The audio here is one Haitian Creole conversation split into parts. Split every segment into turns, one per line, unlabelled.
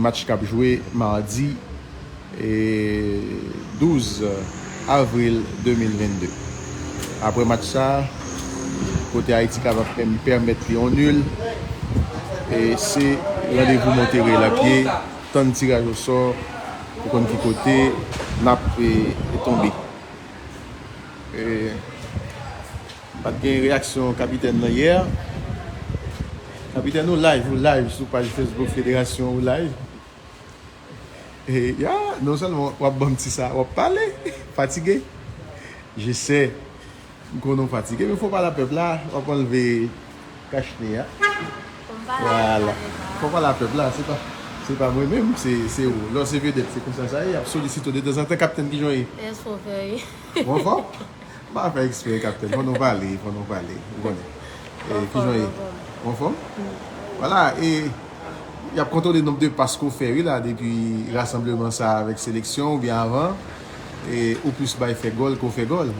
Match k ap jwe madi 12 avril 2022. Aprè match sa kote Ayiti kapab pèmèt li yon nul se randevou monte rèy la pye tann tiraj osò pou konn ki kote n ap tonbe. Pat gen reyaksyon kapitèn lan yè. Kapitèn ou live ou live sou paj Facebook federasyon ou live e ya non sèlman wap banm ti sa wap pale fatige je sè m konnen ou fatige men fò pale a pèp la wap anlve kach ne ya vwala fò pale a pèp la se pa se pa mwen menm se ou lò se vedèt se konsa sa ye yap solisite w detanzantan kapitèn kijan w ye ou
anfòm.
M pa fè eksprè kapitèn, fò nou pale, fò nou pale, ou konnen. Bon fòm, bon fòm. Bon fòm? Wala, e, y ap kontwole nonb de pas ke w fè wi la depi rasanbleman sa a avèk seleksyon ou byen avan, e ou plis bay fè gòl ke w fè gòl.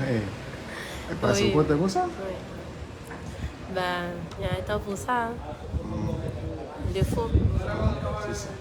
He, e pas ou kontan konsa?
Wi. Ben, y a un temps pour ça, hein. Defo. Se sa.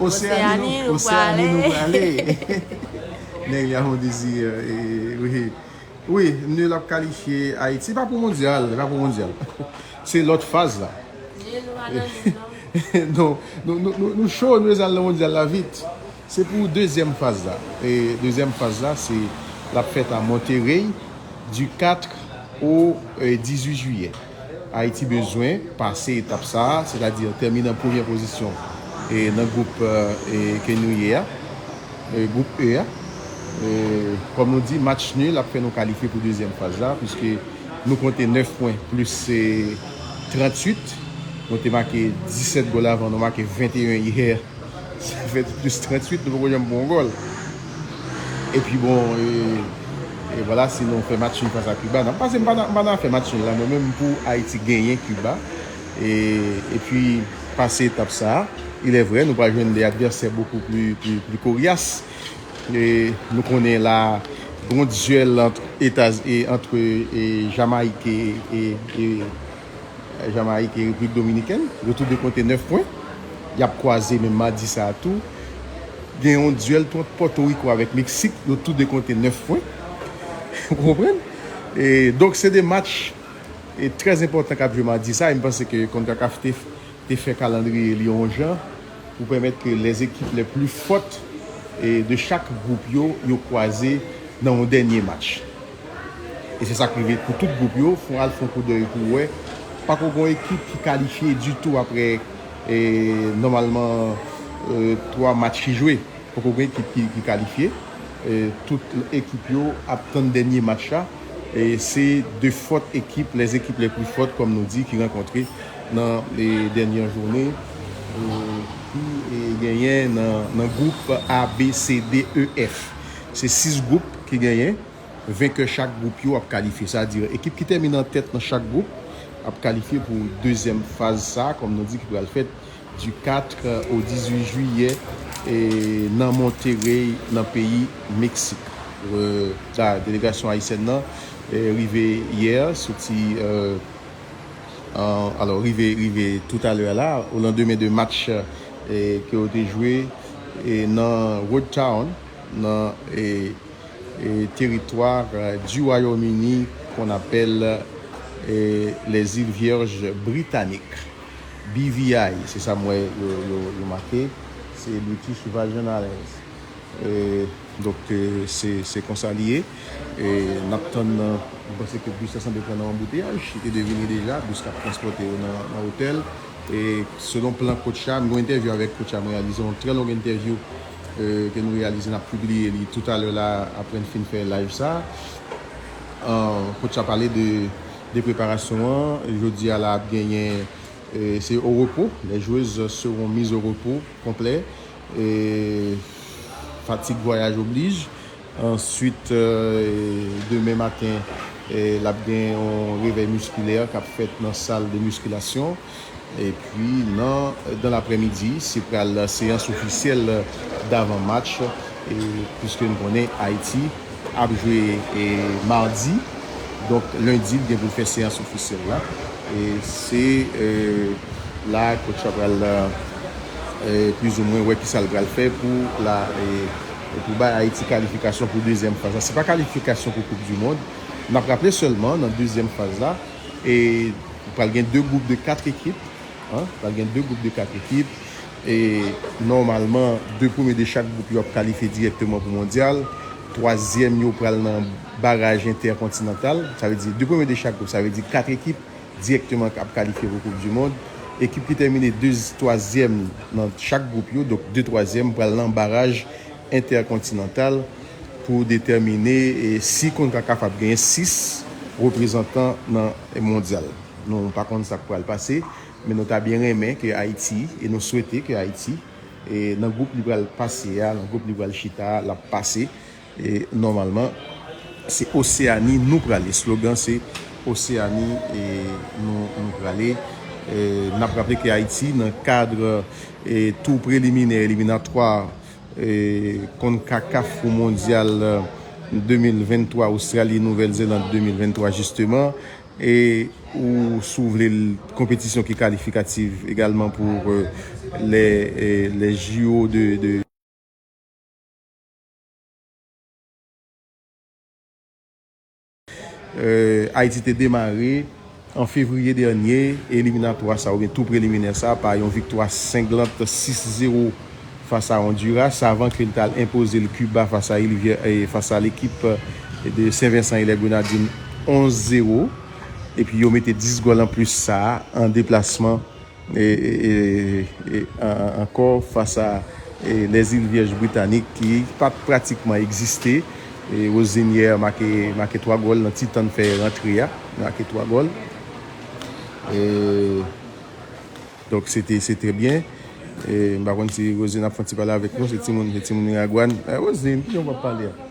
Oseani nou prale
Nèg li a fon dezi Wi nul ap kalifye Ayiti pa pou mondyal Se lòt faz la Nou cho nou bezal nan mondyal la vit Se pou dezyèm faz la Dezyèm faz la se lap fèt a Monterey Du 4 au 18 jiyè Ayiti bezwen pase etap sa, sètadi tèmine an premyè pozisyon nan gwoup E ke nou ye a, gwoup E a. Kòm nou di, match nul ap fè nou kalifye pou dezyèm faz la, puiske nou konte 9 pwen plis 38. Nou te make 17 gòl avan, nou make 21 yè, sa fè plis 38, nou poko janm pran yon gòl. Epi bon e vwala si nou fè match nul fas a Kiba nap pase m pa nan afè match nul la mwen menm pou Ayiti genyen Kiba epi pase etap sa a ilè vrè nou pral jwenn de advèsè bokou pli koryas nou konnen la gon dyèl antre Jamayik e Jamayik e Repiblik Dominikèn, retou de konte 9 pwen. Y ap kwaze menm madi sa a tou. Gen yon dyèl tou ant Pòtoriko avèk Meksik, yo tou de konte 9 pwen. Ou konprann? E donk se 2 match e trè enpòtan k ap jwe madi sa a e m panse ke Concacaf te te fè kalandriye li yon jan pou pèmèt ke lè ekip lè pli fòt e de chak gwoup yo, yo kwaze nan yon dènye match. E se sak rive pou tout gwoup yo, fon al fon koudèy pou wè, pako gon ekip ki kalifye ditou aprè nòmalman 3 match ki jwe, poko gen ekip ki kalifye, tout ekip yo ap tann dènye match la, se 2 fòt ekip, les équipes les plus fortes kòm nou di ki rankontre nan dènye joune ki genyen nan gwoup A, B, C, D, E, F. Se 6 gwoup ki genyen, venkè chak gwoup yo ap kalifye. Sa di ekip ki tèmine an tèt nan chak gwoup ap kalifye pou dezyèm faz sa kòm nou di ki pral fèt di 4 o 18 jiyè nan Monterrey nan peyi Meksik. Delegasyon ayisyèn nan rive yè soti alò rive rive toutalè a la olandemen de match ke yo te jwe nan Road Town. nan territoire du Royaume-Uni qu'on appelle les îles Vierges Britanniques, BVI, se sa m wè yo make, se British Virgin Islands. Donk se konsa li ye. N ap tann, m panse ke bis la sanble pran nan yon anbouteyaj, li te dwe vini deja, bis k ap transpòte yo nan otèl. Selon plan Coach la, m gen yon entèvyou avèk Coach la, m reyalize yon trè long entèvyou. ke nou reyalize nap pibliye li tou talè la aprè n fin fè live sa Coach la pale de preparasyon an jodi a la ap genyen se o repo les joueuses seront mises au repos konplè fatig vwayaj oblij Answit demen maten l ap gen yon revèy miskilè k ap fèt nan sal de miskilasyon. Epi nan dan lapremidi se pral seyans ofisyèl davan match puiske n konnen Ayiti ap jwe madi donk lendi l gen pou l fè seyans ofisyèl la. Se la kotch la pral plizoumwen wè kisa l pral fè pou la. E pou bay Ayiti kalifikasyon pou dezyèm faz la. Se pa kalifikasyon pou koup dimond. N ap raple sèlman nan dezyèm faz la, e pral gen 2 gwoup de 4 ekip, pral gen 2 gwoup de 4 ekip, e nòmalman 2 premye de chak gwoup yo ap kalifye dirèkteman pou mondyal, twazyèm yo pral nan baraj entèkontinantal, sa vle di 2 premye de chak gwoup, sa vle di 4 ekip. dirèkteman kap kalifye pou koup du mond. Ekip ki tèmine 2 twazyèm nan chak group yo, donk 2 twazyèm pral nan baraj entèkontinantal pou detèmine si Concacaf ap genyen 6 reprezantan nan mondyal. Nou pa konn sak pral pase, men nou ta byen renmen ke Ayiti e nou swete ke Ayiti nan group li pral pase a, nan group li pral chita a lap pase E nòmalman se Oseani nou prale. Slogan se Oseani nou prale. N ap raple ke Ayiti nan kad tou preliminè eliminatwa Concacaf pou Mondyal 2023 Ostrali Nouvèl Zeland 2023 jisteman e ou si w vle l konpetisyon ki kalifikativ egalman pou lè JO de Ayiti te demare, an fevriye dènye, eliminatwa sa oubyen tou preliminè sa pa yon viktwa senglant 6 zewo fas a Onduras avan ke li t al enpoze l Kiba fas a il fas a lekip de Sen Vensan e lè Grenadin 11 zewo epi yo mete 10 gòl anplis sa an deplasman. e ankò fas a lè zil vyèj britanik ki pat pratikman egziste e Rosignè make 3 gòl nan ti tann fè rantre a make 3 gòl e donk se te se te byen e m pa konn si Rosine ap fon ti pale avèk nou se timoun se timoun miragwàn Rosine kijan w pap pale a.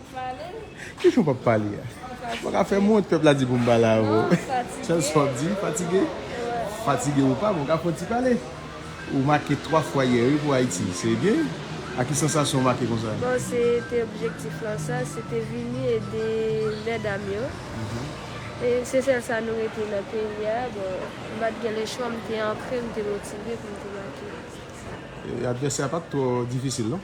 Kijan w pap pale a? Ou pa ka fè m wont pèp la di pou m pale avè w. Sèl sa w ap di, fatige. Fatige ou pa, men w ka fè yon ti pale. Ou make 3 fwa yè wi pou Ayiti. Se byen wi. A ki sansasyon ou make konsa? Bon, se te
objektif lan sa. Se te vini ede mèdam yo. E se sèl sa nou rete nan peyi a. Bon, m pa t gen lechwa, m te antre, m te motive pou m te make. Advèsè a pa t twò
difisil non?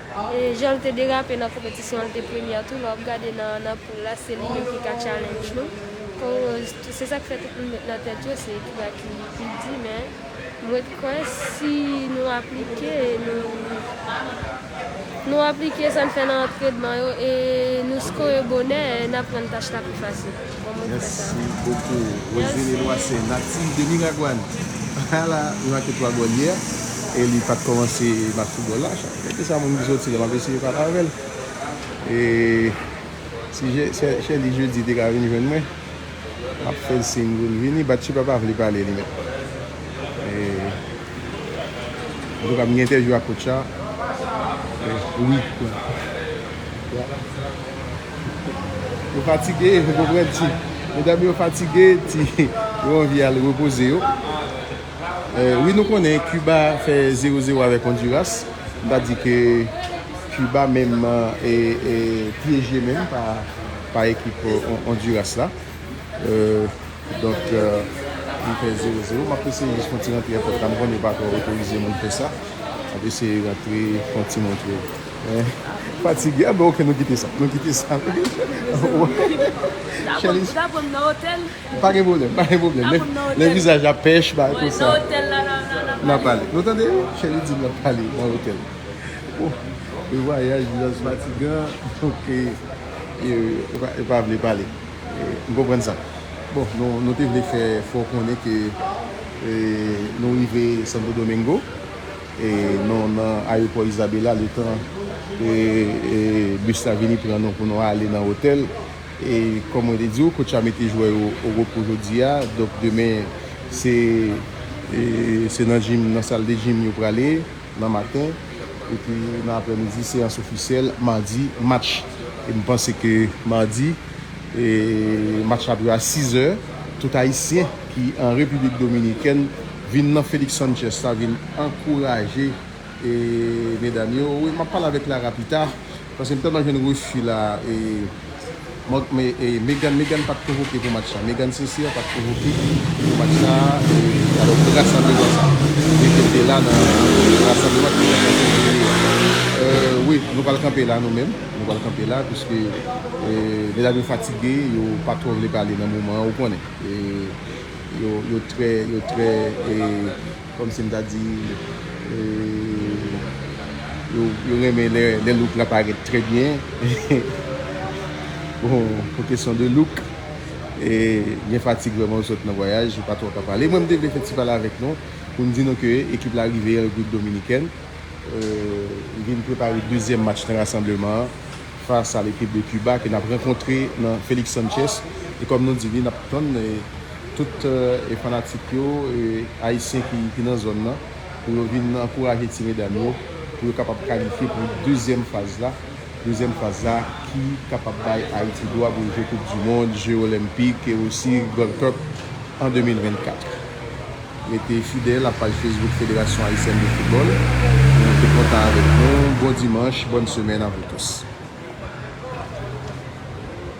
Jan l te derape nan konpetisyon an l te premyè tou, lè w ap gade nan poul la se li menm ki ka challenge nou. Kòwoz tou se sa k fè tout moun met nan tèt yo se ekip a ki pi di men m ret kwè si nou aplike nou aplike sa n fè nan antrenman yo e nou skore bonè n ap rann tach la pi fasil. Merci
beaucoup Rosine Eloi se native de Miragwan a la nou ak etwa bò li a e li pat kòmanse match foutbòl la gade sa moun ki soti la map eseye pale avèl e si Sherley Jeudy te ka vin jwenn mwen map fèl siyn poul vini Batchiba pa vle pale li menm e antouka m gen entèvyou ak coach la wi Yo fatige, yo foko pran ti. Medam yo fatige, ti. Yo anvi al repoze yo. Wi nou konnen Kiba fè 0-0 avèk Ondiras. M ta di ke Kiba menm pyeje menm pa ekip Ondiras la. Donk li fè 0-0. M ap eseye jis fon ti rantre epòt la. M konnen yo pa twò otorize moun fè sa. M ap eseye rantre fon ti montre. Fatige a bon ok nou kite sa. Nou kite sa.
Chèlise. Pa gen pwoblèm. Pa
gen pwoblèm. Lè vizaj la pèch ba tout sa. Nan pale. Nou tande? Chèlise di nan pale. Nan otèl. Yon vwayaj vizaj fatigan. Ok. Yo pa vle pale. M konprann sa. Bon nou te vle fè fè w konnen ke nou rive Santo Domingo. Nou nan ayopò Isabela letan bus la vini pran nou pou nou ale nan otèl e kòm mwen te di ou coach la mete jwè yo o repo jodi a donk demen se nan jim nan sal de jim yo prale nan maten epi nan aprèmidi seyans ofisyèl madi match e m panse ke madi match la ap jwe a 6 è tout ayisyen ki an repiblik dominikèn Vin nan Felix Sanchez la vin ankouraje medam yo wi map pale avèk Lara pita paske m tèlman jwenn refi la e Meghan Meghan pat konvoke pou match sa Meghan Sincere pat konvoke pou match sa alò ki rasanbleman sa vle di'l te la nan rasanbleman ki fèt nan Fevriye a wi nou pral kanpe la nou menm nou pral kanpe la piske medam yo fatige yo pa twò vle pale nan moman an ou konnen. yo trè, yo trè e, kòm si m ta di, e, yo renmen lè, lè look la parèt trè byen, bon, pou kesyon de look, e, gen fatig vreman ou sot nan vwayaj, ou pa twò ka pale, mwen m te vle fè ti pale avèk nou, pou m di nou ke ekip la rive an Repiblik Dominikèn, e, li vin prepare dezyèm match nan rasanbleman an, fas a lekip de Kiba ke nap rankontre nan Felix Sanchez e kòm nou di li nap tann tout fanatik yo ayisyen ki nan zòn nan pou yo vin ankouraje ti medam yo pou yo kapab kalifye pou dezyèm faz la, dezyèm faz la ki kapab bay Ayiti dwa pou l jwe koup du mond, je olenpik e osi Gold Cup an 2024. Rete fidèl a paj Facebook Federasyon Ayisyèn de Foutbòl pou rete kontan avèk nou. Bon dimanch, bòn semèn a vou tous.